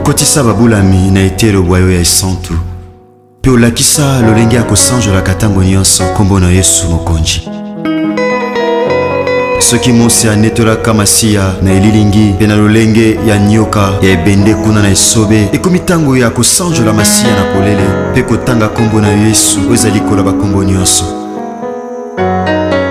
Kotisa babulami na etelo bwa yo ya esantu mpe olakisa lolenge ya kosanjolaka ntango nyonso nkombo na Yesu Mokonji. Soki Mose anetolaka Masiya na elilingi mpe na lolenge ya nyoka ya ebende kuna na esobe, ekomi ntango ya kosanjola Masiya na polele mpe kotanga nkombo na Yesu oyo ezali koloba nkombo nyonso.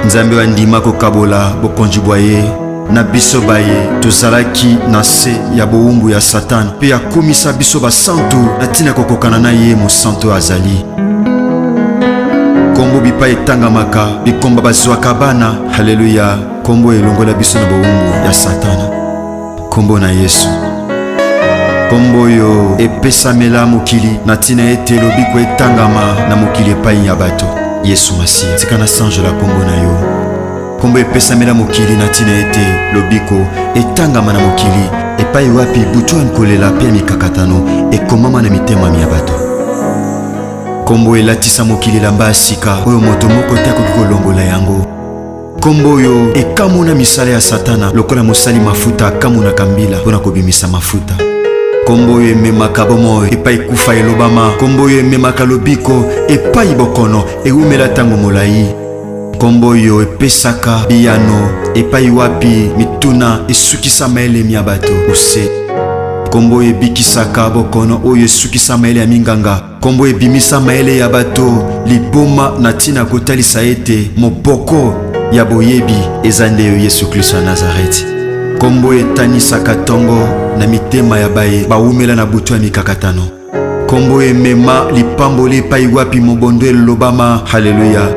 Nzambe oyo andima kokabola bokonzi bwa ye na biso baye tozalaki na se ya bowumbu ya Satana mpe akomisa biso basantu na ntina kokokana na ye mosantu azali kombo bipai etangamaka bikomba bazwaka bana. Haleluya! Kombo elongola biso na bowumbu ya Satana. Nkombo na Yesu. Nkombo oyo epesamela mokili na ntina ete lobiko etangama na mokili epai ya bato. Yesu Masiya, tika nasanjola nkombo na yo. Nkombo epesamela mokili na ntina ete lobiko etangama na mokili epai wapi butu ya nkolela mpe ya mikakatano ekomama na mitema mya bato. Nkombo elatisa mokili elamba ya sika oyo moto moko te akoki kolongola yango. Kombo oyo ekamwe na misala ya Satana, lokola mosali mafuta akamonaka mbila mpo na kobimisa mafuta. Kombo oyo ememaka bomoi epai kufa elobama. Kombo oyo ememaka lobiko epai bokono ewumela ntango molai. Kombo oyo epesaka biyano epai wapi mituna esukisama elemi ya bato ose. Kombo oyo ebikisaka bokono oyo esukisama ele ya minganga. Kombo ebimisa mayele ya bato liboma na ntina kotalisa ete moboko ya boyebi eza nde yo Yesu Klisto ya Nazareti. Kombo etanisaka tongo na mitema ya baye bawumela na butu ya mikakatano. Kombo emema lipamboli epai wapi mobondo elobama haleluya.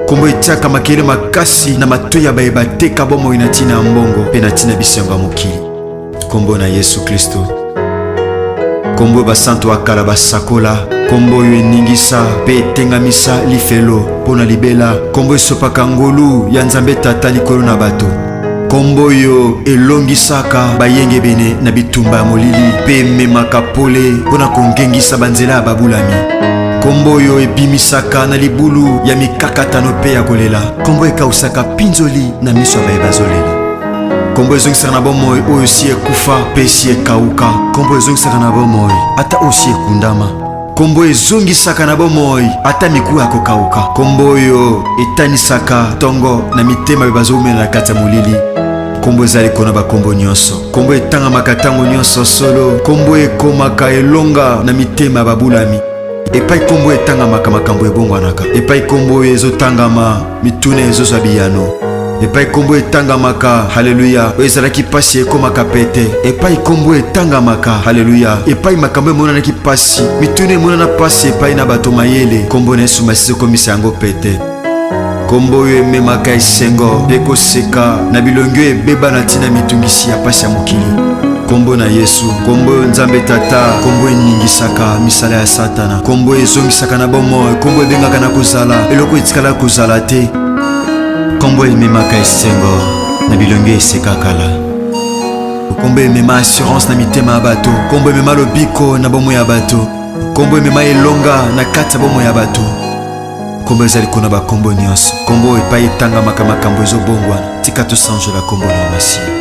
Kombo etiaka makele makasi na matoi ya baye bateka bomoi na ntina ya mbongo mpe na ntina bisengo ya mokili. Kombo na Yesu Klisto, kombo oyo basantu ya kala basakola, kombo oyo eningisa mpe etengamisa lifelo mpo na libela, kombo esopaka ngolu ya Nzambe Tata likolo na bato, kombo oyo elongisaka bayengebene na bitumba ya molili mpe ememaka pole mpo na kongengisa banzela ya babulami, kombo oyo ebimisaka na libulu ya mikakatano mpe ya kolela, kombo ekausaka pinzoli na miso ya baye bazolela. kombo ezongisaka na bomoi oyo si ekufa mpe si ekauka kombo ezongisaka na bomoi ata oyo si ekundama kombo ezongisaka na bomoi ata mikuwa ya kokauka kombo oyo etanisaka ntongo na mitema oyo bazowumela na kati ya molili kombo ezali kona bakombo nyonso kombo etangamaka ntango nyonso solo kombo ekomaka elonga na mitema ya babulami epai kombo etangamaka makambo ebongwanaka epai kombo oyo ezotangama mituna ezozwa biyano epai nkombo etangamaka haleluya oyo ezalaki mpasi ekomaka pete epai nkombo etangamaka haleluya epai makambo emonanaki mpasi mituna emonana mpasi epai na bato mayele nkombo na yesu masisi ekomisa yango pete nkombo oyo ememaka esengo mpe koseka na bilongi oyo ebeba na ntina mitungisi ya mpasi ya mokili nkombo na yesu nkombo oyo nzambe tata nkombo eningisaka misala ya satana nkombo ezongisaka na bomoi nkombo ebengaka na kozala eloko etikala kozala te nkombo ememaka esengo na bilongi esekakala nkombo emema assurance na mitema ya bato nkombo emema lobiko na bomoi ya bato nkombo emema elonga na kati ya bomoi ya bato nkombo ezali kuna bankombo nyonso nkombo epai etangamaka makambo ezobongwana tika tosanjola nkombo na masiya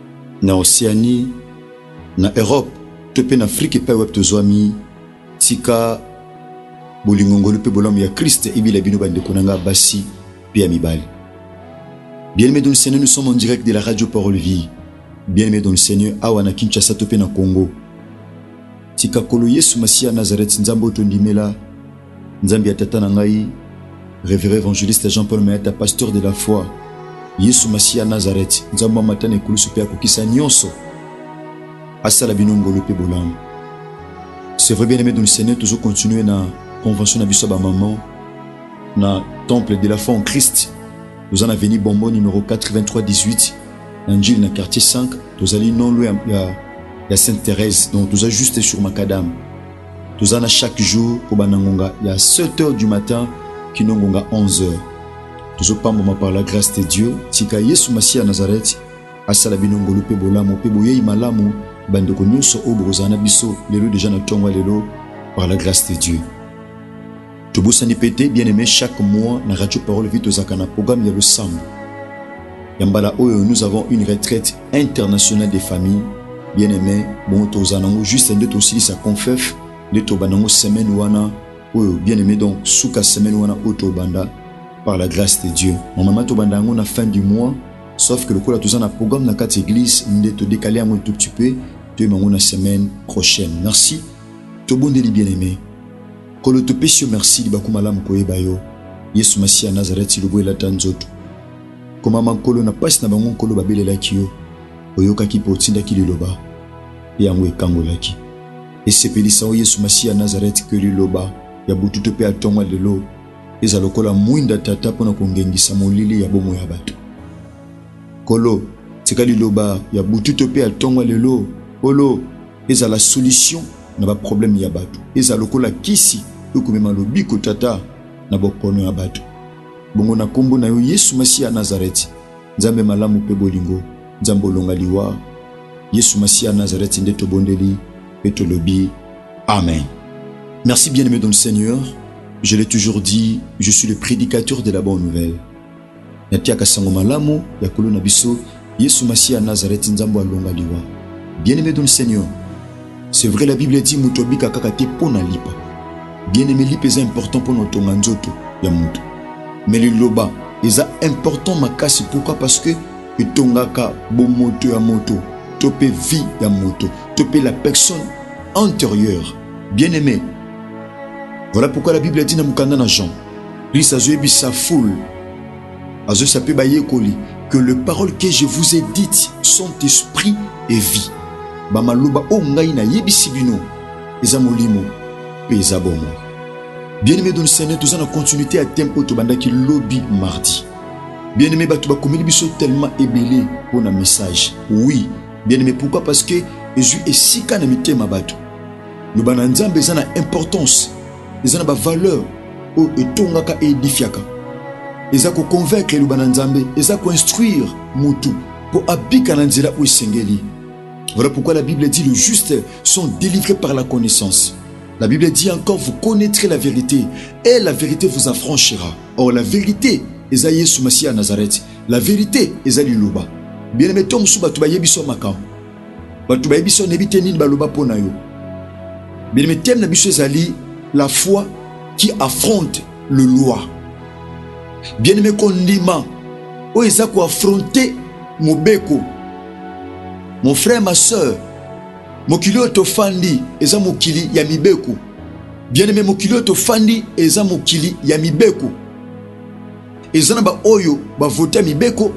na Oceanie, na Europe to mpe na Afrika epai wapi tozwami, tika bolingo, ngolu mpe bolamu ya Christ ebila bino bandeko na ngai basi mpe ya mibali. Bien-aimés dans le Seigneur, nous sommes en direct de la radio Parole Vie. Bien-aimés dans le Seigneur, awa na Kinshasa to mpe na Congo. Tika kolo Yesu Masiya Nazareth Nzambe oyo tondimela Nzambi ya tata na ngai, Reverend Evangeliste Jean-Paul Mayata, pasteur de la foi, Yesu Masiya Nazareth, Nzambe amata na ekulusu mpe akokisa nyonso, asala bino ngolu mpe bolamu. C'est vrai bien aimé dans le Seigneur, toujours continuer na convention na biso ba maman na temple de la foi en Christ. Nous en avenue Bombo numéro 83 18 na Njili na quartier 5, tozali non loin ya, ya Sainte Thérèse. Donc toza juste sur Macadam. toza na chaque jour kobanda ngonga ya 7 heures du matin kino ngonga 11 heures tozopambwama par la grâce de dieu tika yesu masiya ya nazareti asala bino ngolu mpe bolamu mpe boyei malamu bandeko nyonso oyo bokozala na biso lelo deja na ntongo ya lelo par la grâce de dieu Tobosani pe te bien aime chaque mois na radio parole vie tozalaka na programme ya losambo ya mbala oyo nous avons une retraite internationale des familles bien aime bongo tozala nango juste nde tosilisa confef nde tobanda yango semaine wana oyo bien aimé donc suka semaine wana oyo tobanda par la grâce de dieu normalement tobanda yango na fin du mois sauf que lokola toza na programme na kati église nde todekale yango tout petit peu toyeba yango na semaine prochaine merci tobondeli bien aimé Nkolo topesi yo merci libaku malamu koyeba yo Yesu Masiya ya Nazareti lobo elata nzoto komama Nkolo na pasi na bango Nkolo babelelaki yo oyokaki mpe otindaki liloba mpe yango ekangolaki esepelisa o Yesu Masiya ya Nazareti ke liloba ya bututo mpe ya tongo lelo eza lokola mwinda tata mpo na kongengisa molili ya bomoi ya bato Nkolo tika liloba ya bututo mpe ya tongo lelo Nkolo ezala solution na ba problème ya bato ezala lokola kisi oyo komema lobiko tata na bokono ya bato bongo na kombo na yo yesu masiya nazareti nzambe malamu mpe bolingo nzambe olonga liwa yesu masiya nazareti nde tobondeli mpe tolobi amen merci bien aimé dans le seigneur je l'ai toujours dit je suis le prédicateur de la bonne nouvelle Natiaka sango malamu ya kolo na biso yesu masiya Nazareth nzambo alonga liwa bien aime dun seigneur c'est vrai la bible dit mutu abika kaka te pona lipa bien aime lipa eza important pona otonga nzoto ya mutu mais liloba eza important makasi pourquoi parce que etongaka bomoto ya moto to pe vie ya moto to pe la personne antérieure bien aime voilà pourquoi la bible dit na mukanda na jean Christ azoyebisa foule azoyebisa mpe bayekoli que le parole que je vous ai dites sont esprit et vie bamaloba oyo ngai nayebisi bino eza molimo mpe eza bomoi bien aimé doni seigneur toza na continuité ya teme oyo tobandaki lobi mardi bien aimé bato bakomeli biso tellement ebele mpo na message oui bien aimé pourquoi parce que ezwi esika na mitema bato loba na nzambe eza na importance eza na bavaleur oyo etongaka eedifiaka eza koconvaincre eloba na nzambe eza koinstruire motu mpo abika na nzela oyo esengeli voilà pourquoi la bible dit le juste sont délivrés par la connaissance la bible dit encore vous connaîtrez la vérité et la vérité vous affranchira or la vérité eza yesu masiya ya nazareth la vérité eza liloba bien aime to mosusu bato bayebi so makambo bato bayebi biso nayebi te nini baloba mpo na yo bien thème na biso ezali la foi qui affronte le loi bien aimé kondima oyo eza koaffronte mobeko mon frère ma sœur mokili oyo tofandi eza mokili ya mibeko bien aimé mokili oyo tofandi eza mokili ya mibeko eza na baoyo bavote ya mibeko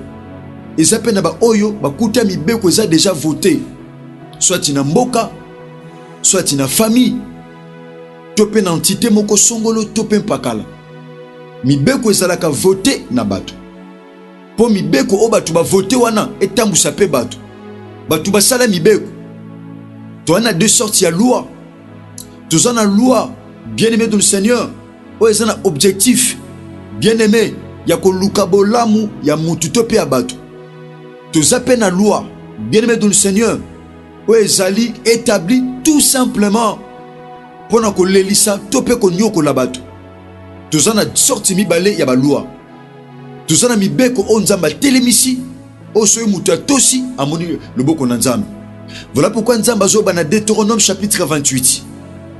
eza mpe na baoyo bakuta mibeko eza deja vote swati na mboka swati na famille to mpe na entité moko songolo to mpe mpakala mibeko ezalaka vote na bato mpo mibeko oyo bato bavote wana etambwisa mpe bato bato basala mibeko toza na deux sortes ya loi toza na loi bien aimé de le seigneur oyo eza na objectif bien aime ya koluka bolamu ya mutu to mpe ya bato toza mpe na loi bien aime dont le seigneur oyo ezali établi tout simplement mpo na kolelisa to mpe konyokola bato toza na sorti mibale ya balwa Toza na mibeko oyo Nzambe atelemisi, oyo soki moto atosi amoni loboko na Nzambe. Voilà pourquoi Nzambe azoba na Deuteronome chapitre 28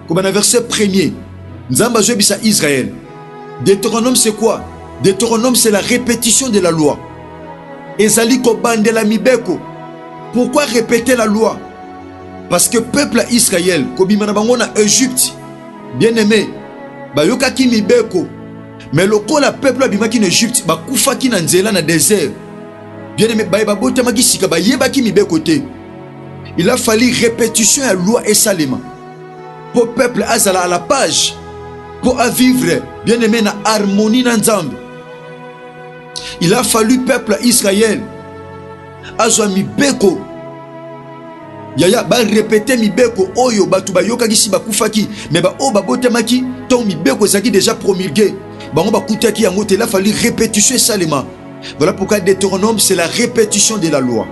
koba na verset premier. Nzambe azoyebisa Israël. Deuteronome c'est quoi? Deuteronome c'est la répétition de la loi. Ezali kobandela mibeko. Pourquoi répéter la loi? Parce que peuple ya Israël kobima na bango na Egypte, bien aimé, bayokaki mibeko Mais lokola peuple abimaki na Egypte bakufaki na nzela na desert. Bien aimé baye babotamaki sika bayebaki mibeko te. Il a fallu répétition ya loi esalema po peuple azala à la page po a vivre bien aimé na harmonie na Nzambe. Il a fallu peuple Israël azwa mibeko Yaya ba repeter mibeko oyo batu bayokaki si bakufaki mais ba oyo babotamaki to mibeko ezaki déjà promulguer bango bakutaki yango te la fallu répétition esalema voilà pourquoi Deutéronome c'est la répétition de la loi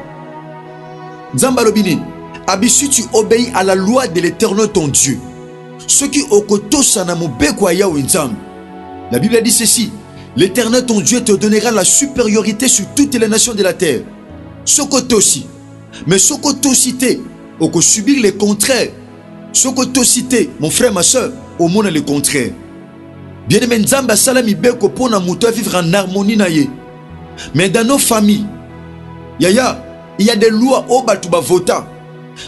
Nzambe alobi nini abisu tu obéis à la loi de l'éternel ton Dieu soki okotosa na mobeko ya Yahweh Nzambe la Bible a dit ceci l'éternel ton Dieu te donnera la supériorité sur toutes les nations de la terre soki otosi Mais soki otosi te, oko subir le contraire. Soki otosi te, mon frère, ma soeur, omona le contraire. Bien aimé, Nzambe asala mibeko mpo na moto vivre en harmonie na ye. Mais dans nos familles, yaya, il y a des lois oyo bato bavota.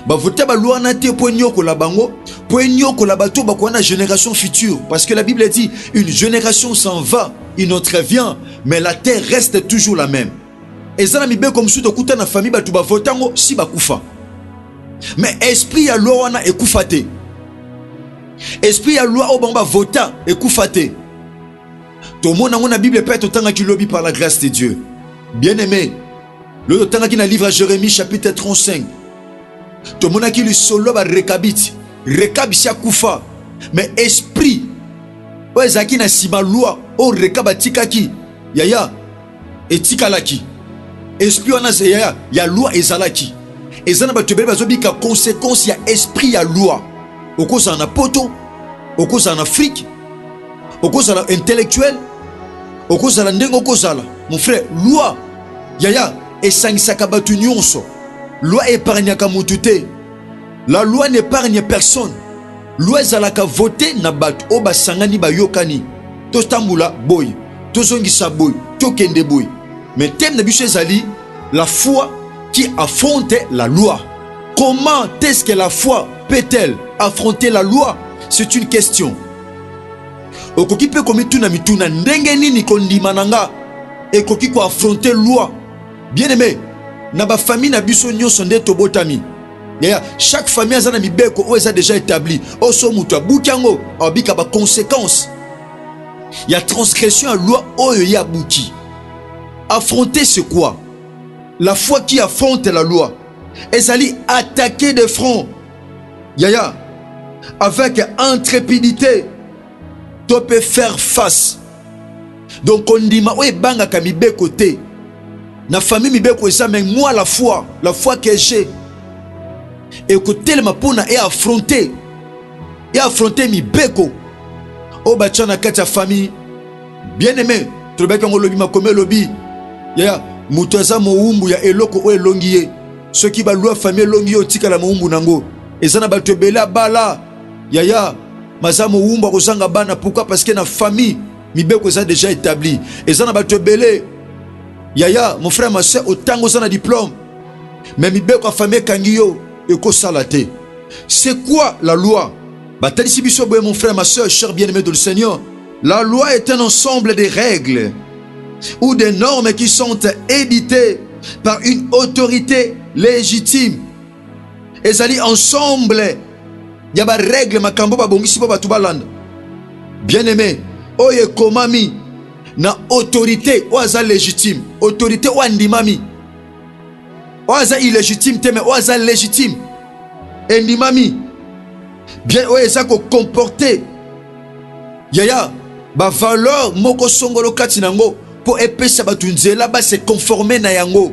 Bavota baloi wana te mpo enyokola bango, mpo enyokola bato bakoya na génération future. Parce que la Bible dit, une génération s'en va, une autre vient, mais la terre reste toujours la même. Eza na mibeko mosusu tokuta na famille bato bavote yango si bakufa, mais esprit ya loi wana ekufa te. Esprit ya loi oyo bango bavota ekufa te. Tomona yango na Bible mpe totangaki lobi par la grâce de Dieu. Bien aimé, loyo totangaki na livre ya Jérémie chapitre 35 tomonaki lisolo ya barekabiti rekabi si akufa me esprit oyo ezalaki na nsima lwa oyo rekabe atikaki yaya Etikalaki esprit wana ya, ya loi ezalaki eza na bato ebele bazobika consequence ya esprit ya loi. Okozala na poto, okozala na Afrique, okozala intellectuel, okozala ndenge okozala mon frère, loi yaya esangisaka bato nyonso. Loi epargnaka motu te, la loi n'epargne personne. Loi ezalaka vote na bato oyo basangani bayokani, totambola boye, tozongisa boye, tokende boye. Mais thème na biso ezali la foi qui affronte la loi. Comment est-ce que la foi peut-elle affronter la loi? C'est une question. Okoki mpe komituna mituna ndenge nini kondima na nga ekoki ko affronter loi? Bien aimé, na ba famille na biso nyonso nde tobotami yaya chaque famille aza na mibeko oyo eza déjà établi oyo so moto abuki yango abika baconséquence ya transgression ya loi oyo ye abuki affronter c'est quoi la foi qui affronte la loi ezali attaquer de front yaya avec intrépidité to mpe faire face donc kondima oyo ebangaka mibeko te na famille mibeko eza mais moi la foi la foi que j'ai ekotelema mpona e affronter e affronter mibeko oyo batya na kati ya famille bien aimé tolobaki yango olobi makomi elobi yaya moto aza mowumbu ya eloko oyo elongi ye soki balwa famille elongi ye otikala mowumbu na yango eza na bato ebele abala Yaya maza mowumba kozanga bana pourquoi parce que na famille mibeko eza déjà établi eza na bato ebele yaya mon frère ma soeur otango oza na diplôme mais mibeko ya famille ekangi yo ekosala te c'est quoi la loi batalisi biso boye mon frère ma soeur cher bien aimé de le seigneur la loi est un ensemble des règles ou des normes qui sont éditées par une autorité légitime Ezali ensemble ya ba règles makambo babongisi mpo bato balanda. Bien aime, oyo ekomami na autorité oyo aza légitime, autorité oyo andimami, oyo aza illégitime te, mais oyo aza légitime, endimami bien, oyo eza kocomporte yaya bavaleur moko songolo kati na yango mpo epesa bato nzela base conforme na yango.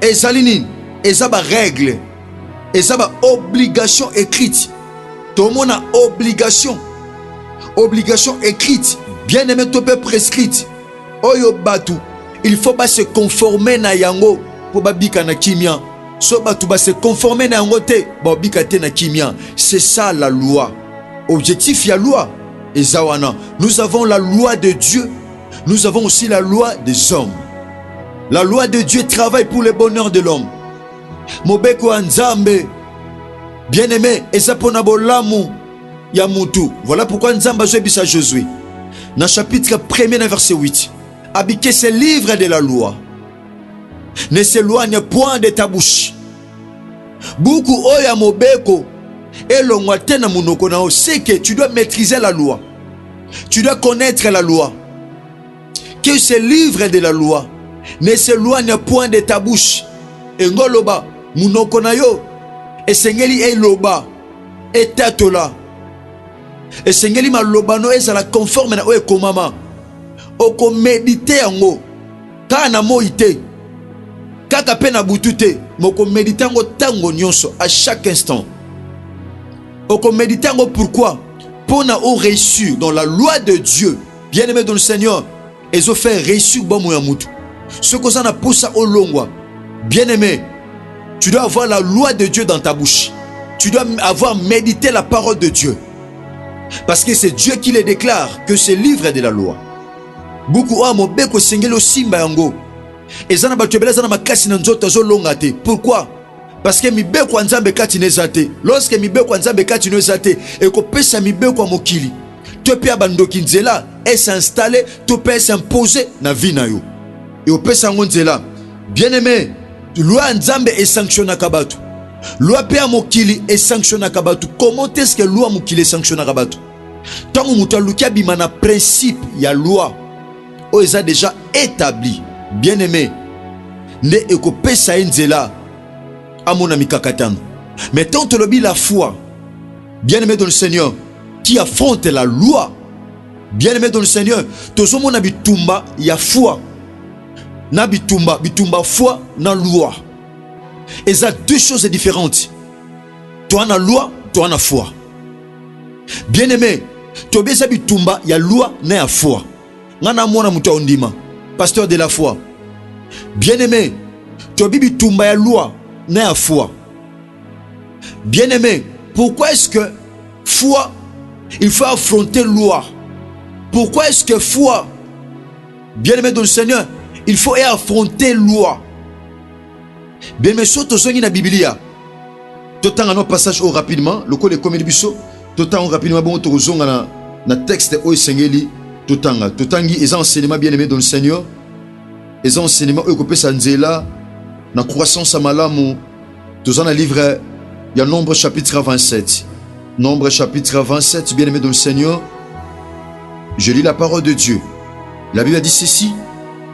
ezali nini eza ba règle eza ba obligation écrite tomona obligation obligation écrite bien aimé to mpe prescrite oyo bato il faut ba se conformer na yango mpo babika na kimia so bato ba se conformer na yango te baobika te na kimia c'est ça la loi objectif ya loi eza wana nous avons la loi de dieu Nous avons aussi la loi des hommes. La loi de Dieu travaille pour le bonheur de l'homme. Mobeko ya Nzambe, bien-aimé, eza pona bolamu ya mutu. Voilà pourquoi Nzambe azwebisa Josué. Na chapitre 1er na verset 8. Abike ce livre de la loi. Ne s'éloigne point de ta bouche. Buku oyo ya mobeko elongwa te na monoko na yo. C'est que tu dois maîtriser la loi. Tu dois connaître la loi. Que ce livre de la loi ne s'éloigne point de ta bouche. Engoloba, monoko na yo esengeli eloba etatola esengeli malobano ezala conforme na oyo ekomama okomedite yango Kaka na moi te, kaka mpe na butu te, mais okomedite yango ntango nyonso, à chaque instant. Okomedite yango pourquoi? Mpo na o réussir dans la loi de Dieu, bien aimé dans le Seigneur, ezofere réussir bomoi ya mutu. Soki oza na mposa olongwa, bien aimé, tu dois avoir la loi de Dieu dans ta bouche. Tu dois avoir médité la parole de Dieu. Parce que c'est Dieu qui les déclare que ce livre est de la loi. Buku oyo ya mobeko esengeli osimba yango. Eza na bato ebele aza na makasi na nzoto azolonga te. Pourquoi? Parce que mibeko ya Nzambe kati na eza te. Lorsque mibeko ya Nzambe kati na eza te, ekopesa mibeko ya mokili to mpe ya bandoki nzela ese installe to mpe ese impose na vie na yo. Eopesa yango nzela. Bien aime, loi ya Nzambe esanctionnaka bato. Loi mpe ya mokili esanctionnaka bato. Comment est-ce que loi ya mokili esanctionnaka bato? Tango moto aluki abima na principe ya loi oyo eza deja etabli bien aime nde ekopesa ye nzela amona mikakatano. Mais tant tolobi la foi, bien aime dans le Seigneur, qui affronte la loi, bien aime dans le Seigneur, tozomona bitumba ya foi na bitumba bitumba foi na loi eza deux choses différentes toi na loi toi na foi bien aime toyebi eza bitumba ya loi na ya foi nga na mwana moto ya ondima pasteur de la foi bien aime toyebi bitumba ya loi na ya foi bien aime pourquoi est-ce que foi il faut affronter loi pourquoi est-ce que foi bien aime dans le seigneur il faut affronter loi Bemeso tozongi na Biblia. Totanga no passage oyo rapidement lokola ekomeli biso, totanga rapidement bongo tokozonga na na texte oyo esengeli totanga. Totangi eza enseignement bien aimé dans le Seigneur. Eza enseignement oyo ekopesa nzela na croissance ya malamu. Toza na livre ya Nombre chapitre 27. Nombre chapitre 27, bien aimé dans le Seigneur. Je lis la parole de Dieu. La Bible a dit ceci.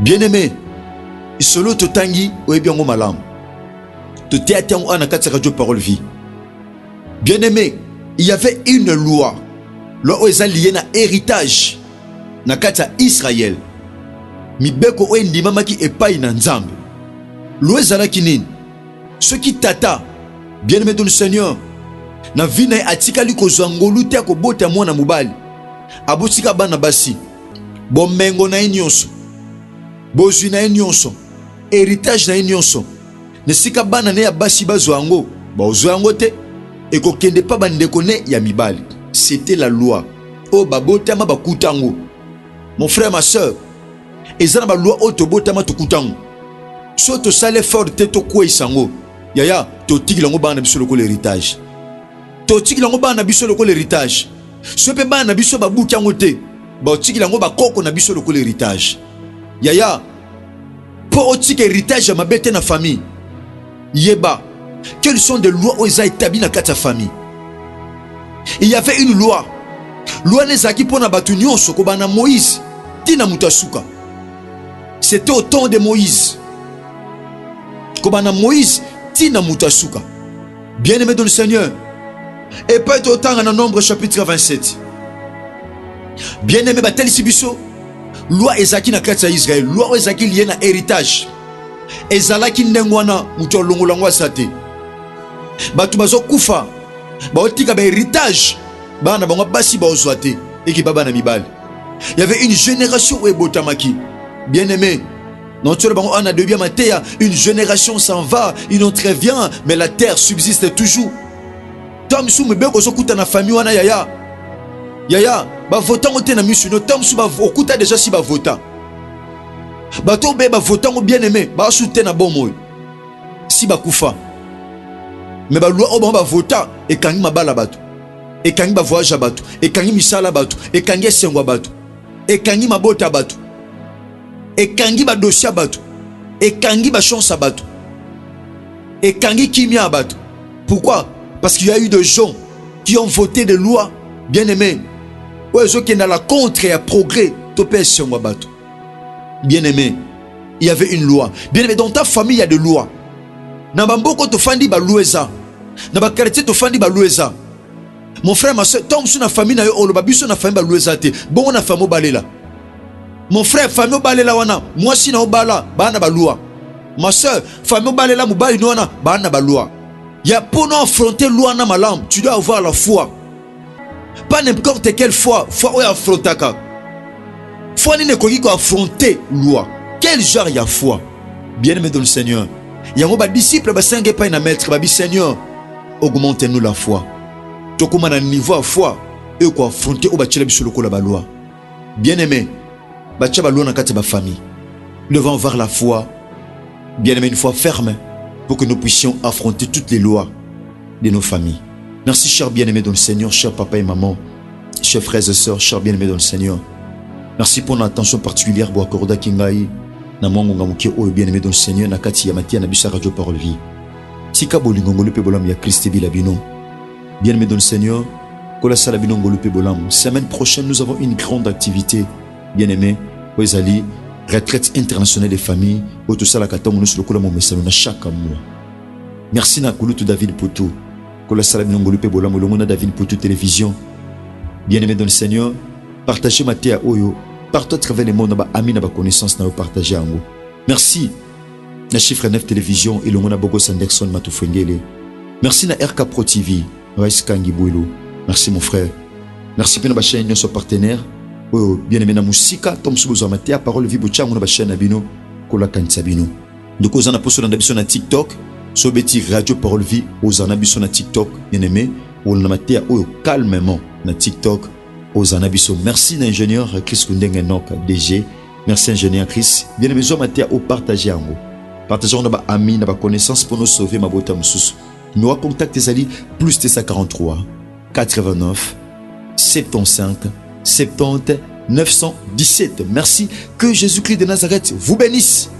Bien-aime, lisolo totangi oyebi yango malamu. Toteya tango ana kati ya radio parole vie. Bien-aime, il y avait une loi. Loi oyo eza liye na héritage na kati ya Israël. Mibeko oyo endimamaki epai na Nzambe. Loi ezalaki nini? Soki tata, bien-aime dans le Seigneur, na vie na ye atikali kozwa ngolu te ya kobota mwana mobali, abotika bana basi, bomengo na ye nyonso, bozwi na ye nyonso, heritage na ye nyonso, na esika bana ne ya basi bazwa yango, baozwa yango te, ekokende pa bandeko ne ya mibali. C'était la loi oyo babotama bakuta yango. Mon frère, ma soeur, eza na baloi oyo tobotama tokuta yango. Soki tosali effort te tokweisa yango, yaya totikela yango bana na biso lokola heritage. totikila yango bana na biso lokola heritage soki mpe bana na biso babuki yango te baotikila yango bakoko na biso lokola heritage yaya mpo otika heritage ya mabe te na famille yeba quelles sont des lois oyo eza établi na kati ya famille il y avait une loi loi wana ezalaki mpo na bato nyonso kobanda moïse ti na moto ya suka c'était au temps de moïse kobanda moïse ti na moto ya suka Bien aimé dans le Seigneur, et pas être autant en nombre chapitre 27. Bien aimé, batel sibiso, loi ezaki na kati ya Israël, loi ezaki lié na héritage. Ezalaki nengwana mutu longo langwa sate. Batu bazo kufa, ba otika ba héritage, ba na bango basi ba ozwate et ki baba na mibali. Il y avait une génération où ebotamaki. Bien aimé, Non, tu on a de bien matéa, une génération s'en va, une autre vient, mais la terre subsiste toujours. Tom sou me beko sokuta na famille wana yaya. Yaya, ba votant te na misu no tom sou ba okuta déjà si ba votant. Ba to be ba votant bien aimé, ba sou te na bon moy. Si ba kufa. Mais ba loi oba ba votant et kangi mabala bato. Et kangi ba voyage bato, et kangi misala bato, et kangi esengwa bato. Et kangi mabota bato. ekangi ba dossier ya bato ekangi ba chance ya bato ekangi kimia ya bato pourquoi parce qu'il y a eu des gens qui ont voté des lois bien aimé oyo ezokenda la contre ya progrès to mpe esengo ya bato bien aimé il y avait une loi bien aimé dans ta famille il y a des lois na bamboko tofandi balwa eza na bakartier tofandi balwa eza Mon frère, ma soeur, tant que na famille na yo oloba biso na famille balu eza te. Bongo na famille obalela. Mon frère, famille obalela wana, mwasi na obala, bana balua. Ma soeur, famille obalela mobali no wana, bana balua. Ya pour nous affronter loi na malam, tu dois avoir la foi. Pas n'importe quelle foi, foi oyo affrontaka. Foi nini ekoki ko affronter loi. Quel genre ya foi? Bien-aimé dans le Seigneur. Yango ba disciples basenga epai na maître, babi Seigneur, Augmente nous la foi. Tokoma na niveau ya foi oyo ko affronter oyo batiela biso lokola ba loi. Bien aimé, batia ba loi na kati ya ba famille. Nous devons avoir la foi. Bien aimé, une foi ferme pour que nous puissions affronter toutes les lois de nos familles. Merci, cher bien-aimé dans le Seigneur, cher papa et maman, chers frères et sœurs, chers bien-aimés dans le Seigneur. Merci pour l'attention particulière Boakorda Kingai, na mwango ngamuke oyo bien-aimé dans le Seigneur, na kati ya matia na bisa radio parole vie. Tika bolingo ngolu pe bolamu ya Christ ebila bino. Bien aimé dans le Seigneur, kola sala bino ngolu pe bolamu. Semaine prochaine, nous avons une grande activité. Bien aimé, oyo ezali retraite internationale des familles oyo tosalaka ntango nyonso lokola momesano na chaque mois. Merci na kulutu David Putu. Kola sala bino ngolu pe bolamu elongo na David Putu Télévision. Bien aimé dans le Seigneur, partagez mateya oyo partout à travers le monde na ba amis na ba connaissances na yo partager yango. Merci. na chiffre 9 television elongo na bogos anderson matufwengele merci na rk pro tv rais kangi bwelu merci mon frère merci mpe na bachaine nyonso partenaire oyo bien aime na mosika to mosusu bozwa mateya parole vie botya yango na bachaine na bino kolakanisa bino ndeko oza na mposo olanda biso na tiktok so obeti radio parole vie ozala na biso na tiktok bien aime olanda mateya oyo calmement na tiktok ozala na biso merci na ingénieur chris kundenge nok dg Merci ingénieur Chris. Bien aimé, zwa mateya o partager yango. Partager yango na ba amis, na ba connaissances pour nous sauver mabota mosusu. Numéro ya contact ezali plus 243 89 75 70 917. Merci. Que Jésus-Christ de Nazareth vous bénisse.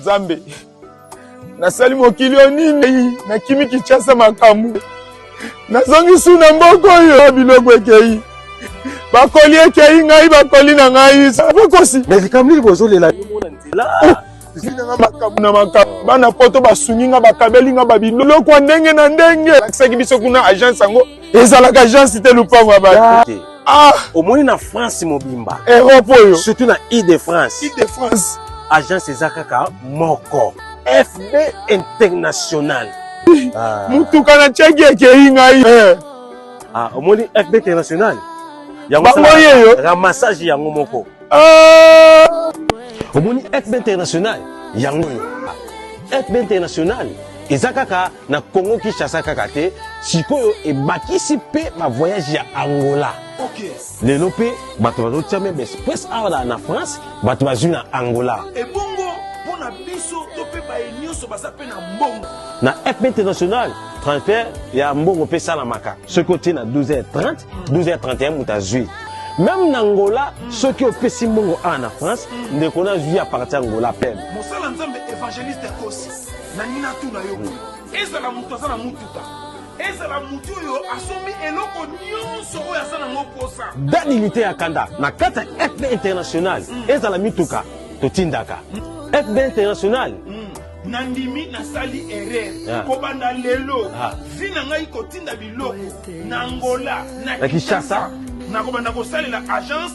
Nzambe, nasali mokili oyo nini? Nakimi Kinshasa makambo, nazongi su na mboka oyo biloko ekei bakoli ekei ngai bakoli na ngai bakosi me likambo nini bozolela zinanga makambo na makambo bana poto basungi nga bakabeli nga babiloko ya ndenge na ndenge lakisaki biso kuna agence yango ezalaka agence te lupango ya bato ah omoni na france mobimba europe oyo surtout na ile de france ile de france agence eza kaka moko fb international ah. motuka na tiaki ekei ngai eh. ah, omoni fb international yango yeyo ramassage yango moko ah. omoni fb international yango oyo fb international eza kaka na Congo Kinshasa kaka te sikoyo ebakisi mpe ba voyage ya Angola lelo mpe bato bazotia meme express awa na France bato bazwi na Angola ebongo mpo na biso to mpe baye nyonso baza mpe na mbongo na fp international transfert ya mbongo mpe esalamaka soki otie na 12h30 12h31 moto azwi meme na angola soki opesi mbongo awa na france ndeko na azwi ya parti angola pene mosala nzambe evangeliste akosi nangi natuna yo boye ezala moto aza na motuka ezala moto oyo asombi eloko nyonso oyo aza nango mposa dani lite ya kanda na kati ya fb international mm. ezala mituka totindaka mm. fb international mm. nandimi nasali erreur ah. kobanda lelo ah. vi na ngai kotinda biloko na ngola na kinshasa nakobanda kosalela agence